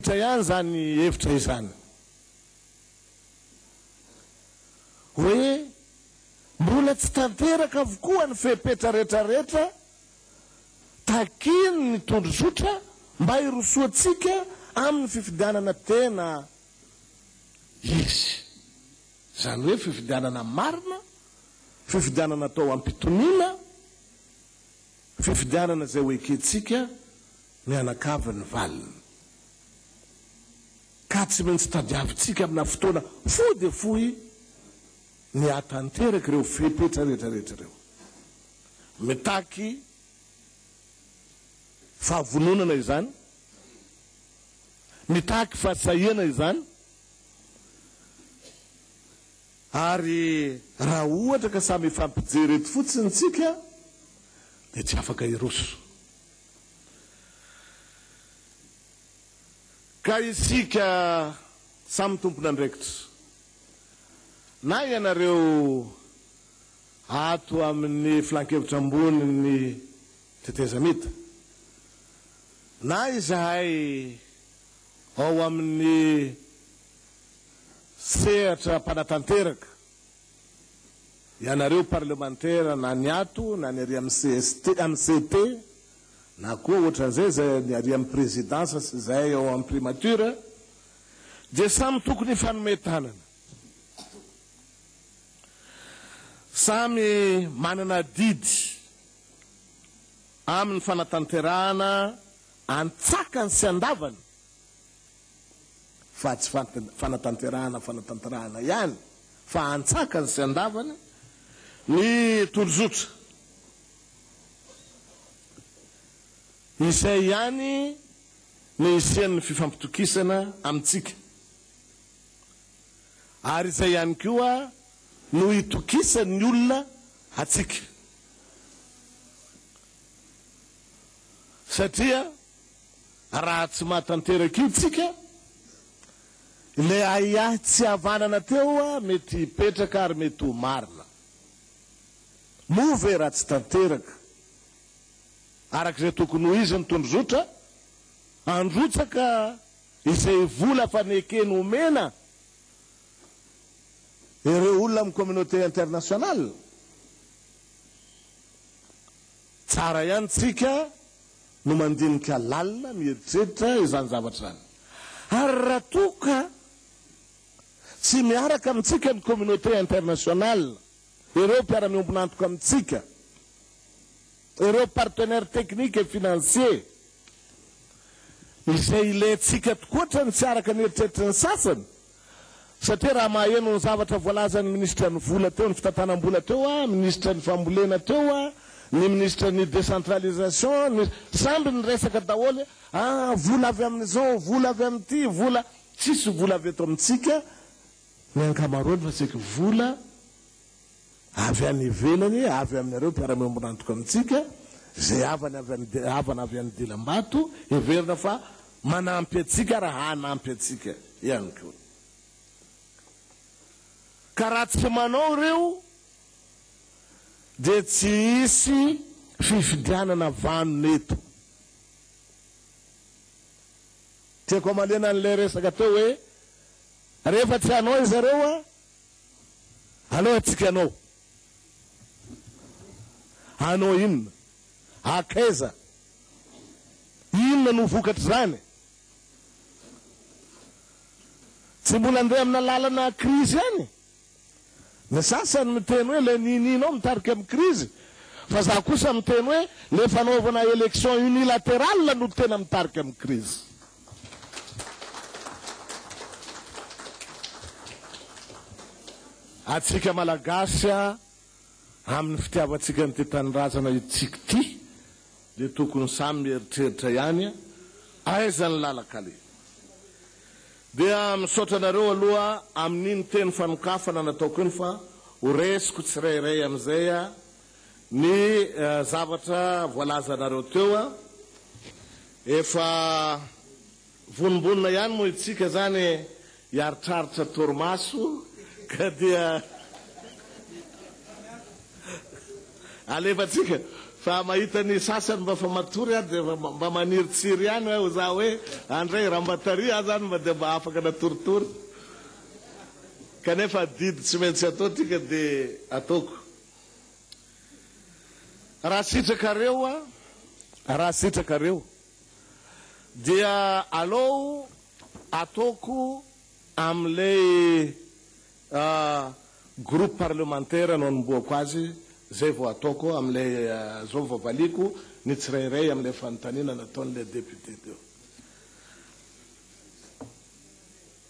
Tsa ihany izany hevitra izany hoe mbola tsy tanteraka avokoa ny fepetra rehetrarehetra takian' ny tondrozotra mba hirosoantsika amin' ny fifidianana tena izy, izany hoe fifidianana marina, fifidianana atao am-pitoniana, fifidianana izay ho ekentsika mianakavy ny valiny ka tsy maintsy tadiavintsika amina fotoana fohy dia fohy ny hahatanteraka ireo fepetra rehetra rehetra ireo. Mitaky fahavononana izany, mitaky fahasahiana izany, ary raha ohatra ka samy hifampijery eto fotsiny isika dia tsy afaka hiroso. Ka isika samy tompon'andraikitra, na ianareo ato amin'ny Filankevitra Ambonin'ny Tetezamita, na izahay ao amin'ny sehatra mpanatanteraka Ianareo parlemantera na ny ato na ny ary amin'ny cst amin'ny CT na koa ohatran'izay izay ny ary amin'ny présidence sy izahay ao amin'ny primature dia samy tokony hifanome tanana. Samy manana adidy amin'ny fanatanterahana antsakany sy andavany fa tsy fanatanterahana fanatanterahana ihany fa antsakany sy andavany ny tolozotra izay ihany ny hisian'ny fifampitokisana amintsika ary izay ihany koa no hitokisan'ny olona antsika satria Raha tsy maty tanteraka io tsika, ilay ahiahy tsy havanana teo mety hipetraka ary mety ho marina. Moa ve raha tsy tanteraka araka izay tokony ho izy ny tondrozotra, handrotsaka izay vola efa neken omena ireo olona amin'ny communauté internationale? Tsara ihany tsika no mandinika lalina mieritreritra izany zavatra izany. Ary raha toa ka tsy miaraka amintsika ny communauté internationale, ireo mpiara-miombon'antoka amintsika, ireo partenaires techniques et financiers, izay ilaintsika tokoa hatrany tsy araka ny eritreritry ny sasany, Satria raha maheno ny zavatra voalazan'ny minisitra ny vola teo, ny fitantanam-bola teo, minisitra ny fambolena teo, ny minisitra ny décentralisation, ny samby niresaka daholo hoe ah vola avy amin'izao, vola avy amin'ity, vola, tsisy vola avy eto amintsika ny ankamaroany fa saika vola. avy any ivelany, avy aminareo mpiara-miombon'antoka amintsika, izay havana avy any, havana avy any Dilambato, heverina fa manampy antsika ary hanampy antsika ihany koa. Ka raha tsy manao ireo dia tsy hisy fifidianana vanona eto. Tiako hamaliana an'ilay resaka teo hoe rehefa tsy hanao izareo a! Aleo atsika anao. Anao inona? Akaiza? Inona no vokatr'izany? Tsy mbola andeha amina lalana krizy ihany? Ny sasany miteny hoe ilay ninianao mitarika amin'ny krizy, fa za kosa miteny hoe ilay fanaovana élection unilatérale no tena mitarika amin'ny krizy. Atsika Malagasy a, amin'ny fitiavantsika an'ity tanindrazana itsika ity dia tokony samy mieritreritra ihany a, aiza ny lalan-kaleha. Dia misaotra anareo aloha amin'iny teny fanokafana nataoko iny fa ho resiko tsirairay amin'izay a, Ny zavatra voalazanareo teo a, efa vonombonona ihany moa itsika zany hiaritraritra torimaso ka dia alefatsika fa mahita ny sasany mba fa matory aho dia mba manirintsiry ihany aho za hoe andray rambataria aho zany mba dia mba afaka natoritory kanefa adidy tsy maintsy atao ity ka dia ataoko. Raha sitrakareo a, raha sitrakareo dia alou ataoko amin'ilay groupe parlementaire no anombohako azy, zay vao ataoko amin'ilay, zao vao valiako ny tsirairay amin'ilay fanontaniana nataon'ilay député teo.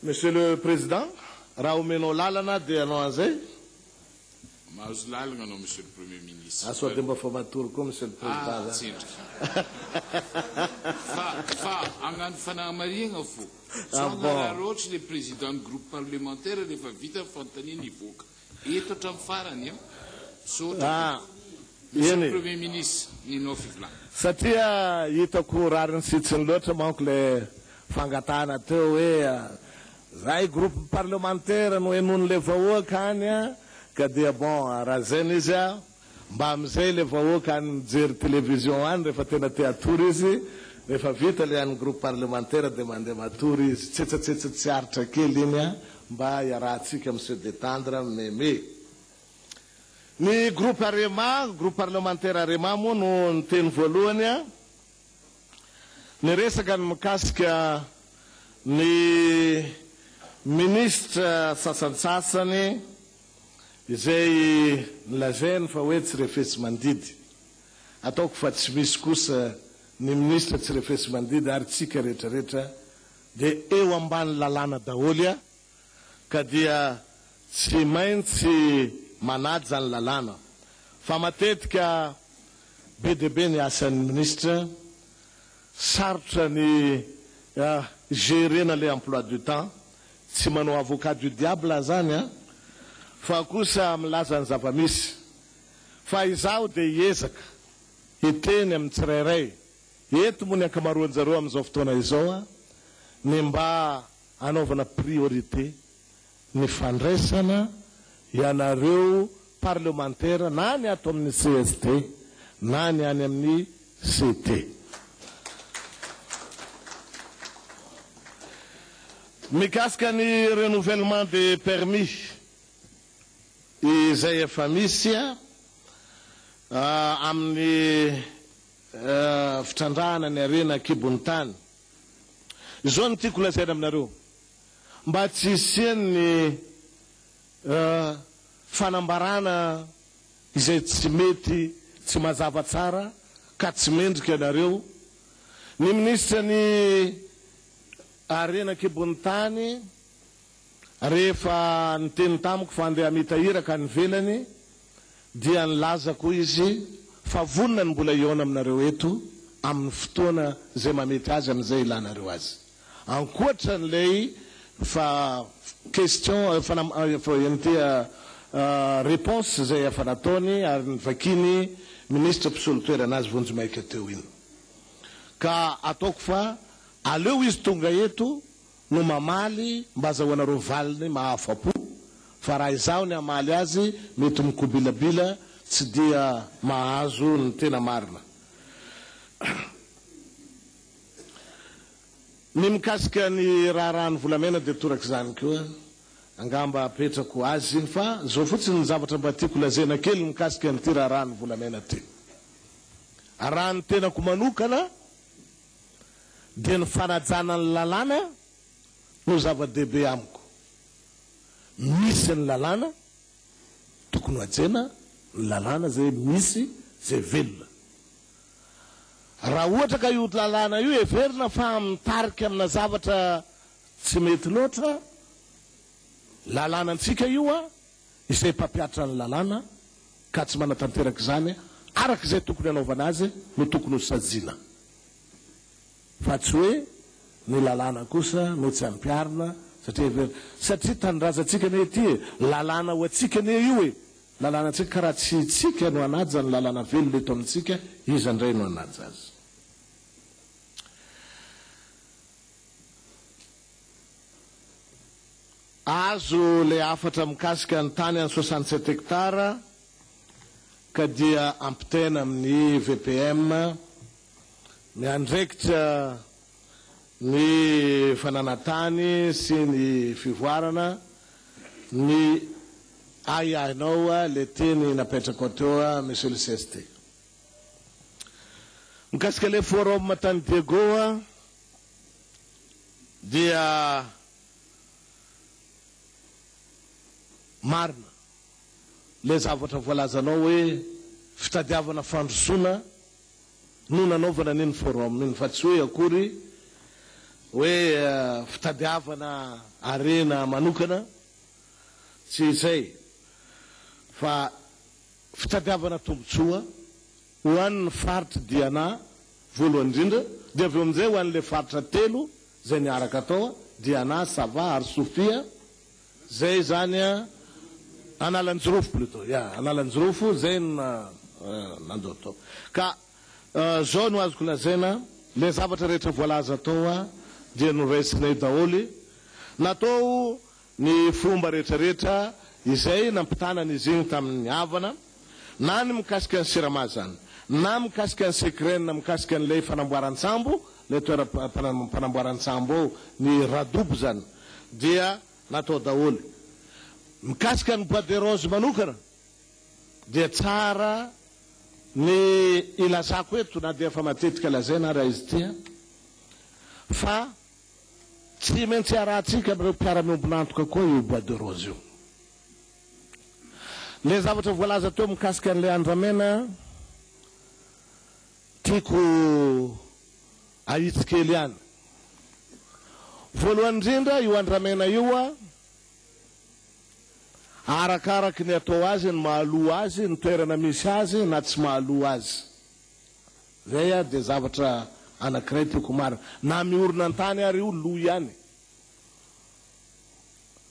Monsieur le Président, raha omenao lalana dia hanao an'izay. Mahazo lalagna anao Monsieur le Premier Ministre. Fa sao dia mba fa matory koa Monsieur le Président zany. Ah, tsendriky. Fa, fa hagnano fanahamarihagna fô. Tsy ho hanararaotry le Président-n'ny Groupe Parlementaire rehefa vita ny fanontanian'ny hivoaka. Eto hatramin'ny farany an. Misaotra tompoko. Monsieur le Premier ministre, ny nao fivolana. Satria hitako rariny sy tsiny loatra manko ilay fangatahana teo hoe zay groupe parlementaire no henoin'ilay vahoaka any an, ka dia bon raha zay no izy an. Mba amizay le vahoaka any mijery television any refa tena te hatory izy, refa vita le any groupe parlementaire de mande matory izy, tsetsatsetsa tsy aritra kely iny a, mba iarahatsika mi se detendre meme. Ny groupe arema, groupe parlementaire arema moa no niteny voalohany a, ny resaka ny mikasika ny ministre sasantsasany, Izay nolazainy fa hoe tsy refesi-mandidy, ataoko fa tsy misy kosa ny minisitra tsy refesi-mandidy ary tsika rehetrarehetra dia eo ambany lalàna daholo a! ka dia tsy maintsy manaja ny lalàna fa matetika be dia be ny asan'ny minisitra, sarotra ny gerena le emploi du temps. Tsy manao avocat du diable aho zany an! Fa kosa milaza ny zava-misy. Fa izaho dia hiezaka hiteny amin'ny tsirairay eto moa ny ankamaroanjareo amin'izao fotoana izao an! ny mba hanaovana priorité ny fandraisana ianareo parlemantera na ny ato amin'ny CSD na ny any amin'ny CT. Mikasika ny renouvellement des permis izay efa misy amin'ny fitrandrahana ny harena an-kibon'ny tany, izao no tiako lazaina aminareo, mba tsy hisian'ny fanambarana izay tsy mety, tsy mazava tsara ka tsy mendrika ianareo. Ny minisitra ny harena an-kibon'ny tany rehefa niteny tamiko fa andeha hamita iraka any ivelany dia nilazako hoy izy fa vonona ny mbola hihaona aminareo eto amin'ny fotoana izay mahamety azy amin'izay ilanareo azy. Ankoatra an'ilay fa question réponse izay efa nataony ary novakian'ny Ministra mpisolo toerana azy vonjimaika teo iny. Ka ataoko fa aleo izy tonga eto no mamaly mba azahoanareo valiny mahafa-po fa raha izaho ny hamaly azy mety mikobilabila tsy dia mahazo ny tena marina. Ny mikasika ny raharahan'ny volamena dia torak'izany koa angamba apetrako azy fa izao fotsiny ny zavatra mba tiako lazaina kely mikasika an'ity raharahan'ny volamena ity. Raha ny tenako manokana dia ny fanajana ny lalàna no zava-dehibe amiko. Misy ny lalàna, tokony ho hajaina ny lalàna izay misy, izay velona. Raha ohatra ka io lalàna io heverina fa mitarika amina zavatra tsy mety loatra, lalànantsika io, izay mpampiatra ny lalàna ka tsy manatanteraka izany araka izay tokony hanaovana azy no tokony ho saziana, fa tsy hoe ny lalàna kosa no tsy ampiharina satria heverina, satria tanindrazantsika anie ity e, lalàna ho antsika anie io e, Lalànantsika ka raha tsy itsika no hanaja ny lalàna velona eto amintsika, iza indray no hanaja azy? Azo ilay hafatra mikasika ny tany any soixante sept hectares ka dia ampitaina amin'ny VPM miandraikitra ny fananan-tany sy ny fivoarana, ny ahiahinao ilay teny napetrakao teo Monsieur le cst. Mikasika ilay forum tany Diego dia marina ilay zavatra voalazanao hoe fitadiavana fandrosoana no nanaovana an'iny forum iny fa tsy hoe akory hoe fitadiavana harena manokana, tsy izay fa fitadiavana tombotsoa ho an'ny faritr'i Diana voalohany indrindra dia avy eo amin'izay ho an'ilay faritra telo izay niaraka tao, Diana, Sava ary Sofia, Zay zany a Analanjirofo plutot ya Analanjirofo zay no nandoa tao ka zao no azoko lazaina le zavatra rehetra voalaza tao a dia noraisinay daholy natao ny fomba rehetra rehetra izay nampitana an'izy igny tamin'ny havana na ny mikasika ny Sirama izany, na mikasika ny Secren, mikasika an'ilay fanamboaran-tsambo, ilay toeram-panamboaran-tsambo ao, ny Radoub izany, dia natao daholo. Mikasika ny Bois de Rose manokana, dia tsara ny ilazako eto, na dia efa matetika lazaina ary izy ity, fa tsy maintsy iarahantsika amin'ireo mpiara-miombon'antoka koa io Bois de Rose io. Ilay zavatra voalaza teo mikasika an'ilay andramena, tiako ahitsy kely ihany. Voalohany indrindra, io andramena io, arakaraky ny atao azy, ny mahaloa azy, ny toerana misy azy na tsy mahaloa azy. Izay dia zavatra anankiray tiako ho marina. Na miorina an-tany ary io, loa ihany.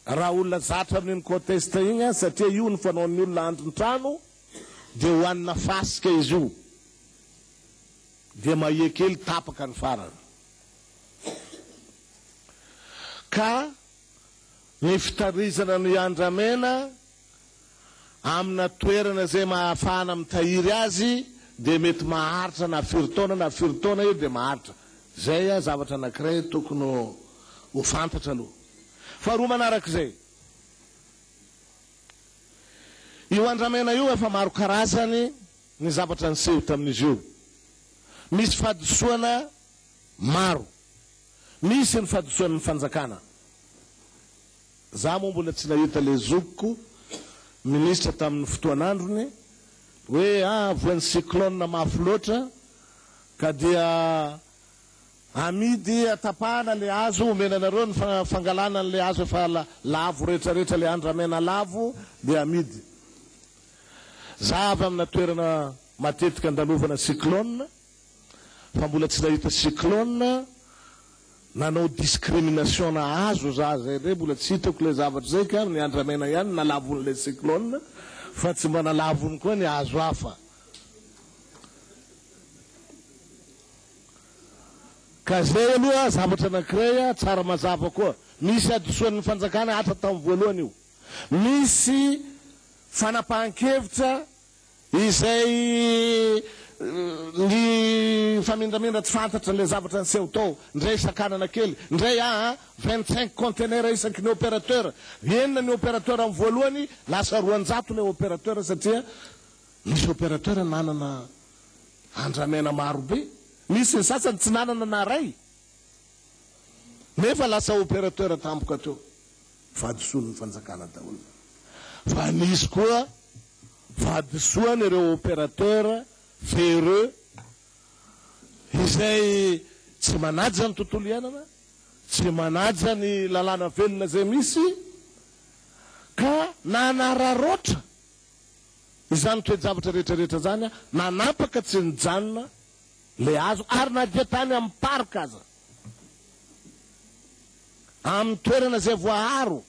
raha olona zatra amin'iny conteste iny an, satria io no fanaon'ny olona andrin-trano dia hohanina fasika izy io dia mahia kely tapaka ny farany ka ny fitarizana ny andramena Amina toerana izay mahafahana mitahiry azy dia mety maharitra na firy taona na firy taona io dia maharitra. Izay zavatra anankiray tokony ho fantatra aloha. Faharoa manaraka izay, io andramena io efa maro karazany ny zavatra niseho tamin'izy io. Misy fahadisoana maro. Misy ny fahadisoan'ny fanjakana. Za moa mbola tsy nahita le zokiko ministra tamin'ny fotoan'androny hoe ah voan'ny cyclone mafy loatra ka dia amidy atapahana le hazo omena anareo ny fangalana an'le hazo efa lavo rehetra rehetra le andramena lavo dia amidy. Za avy amina toerana matetika andalovana cyclone. Fa mbola tsy nahita cyclone nanao discrimination nahazo za zay ndray mbola tsy hitako ilay zavatra zay ka ny andramena ihany nalavon'ilay cyclone fa tsy mba nalavony koa ny hazo hafa ka zay aloha zavatra anakiray tsara mazava koa misy hadisoan'ny fanjakana hatra tamin'ny voalohany io misy fanapahankevitra Izay ny mifamindraminra tsy fantatra ilay zavatra niseho tao, indray sakanana kely, indray aa, vingt cinq conteneurs isaky ny opérateur, enina ny opérateur amin'ny voalohany, lasa roanjato ilay opérateur satria misy opérateur nanana andramena maro be, misy ny sasany tsy nanana na iray nefa lasa opérateur tampoka teo. vadisoan'ny fanjakana daholo fa nisy koa vadisoan'ireo opérateur ferreux izay tsy manaja ny tontolo iainana, tsy manaja ny lalàna velona izay misy ka nanararaotra izany toe-javatra rehetrarehetra izany, nanapaka tsy nijanona ilay hazo ary na dia tany amin'ny parc aza. amin'ny toerana izay voaaro,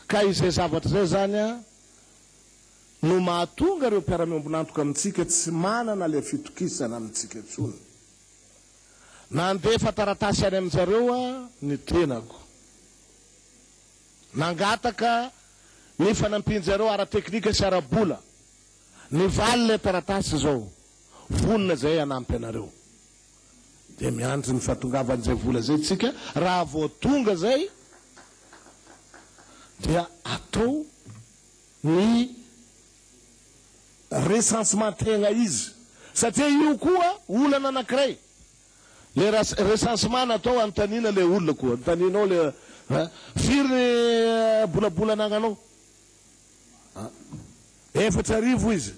ka izay zavatra izay izany no mahatonga ireo mpiara-miombon'antoka amintsika tsy manana ilay fitokisana amintsika intsony. Nandefa taratasy any amin-dry zareo ny tenako. Nangataka ny fanampian-dry zareo ara-teknika sy ara-bola. Nivaly ilay taratasy izao, Vonona izahay hanampy anareo. dia miandry ny fahatongavan'izay vola izay tsika, raha vao tonga izay dia atao ny recensementegna izy satria io koa olana anakiray le recensemant natao anontaniana le olona koa anontanianao le a firy ny bolabola anagnanao a efatra arivo izy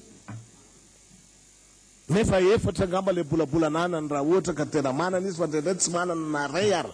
Nefa efatra angamba ilay bolabola ananany raha ohatra ka tena manana izy fa indraindray tsy manana na iray ara.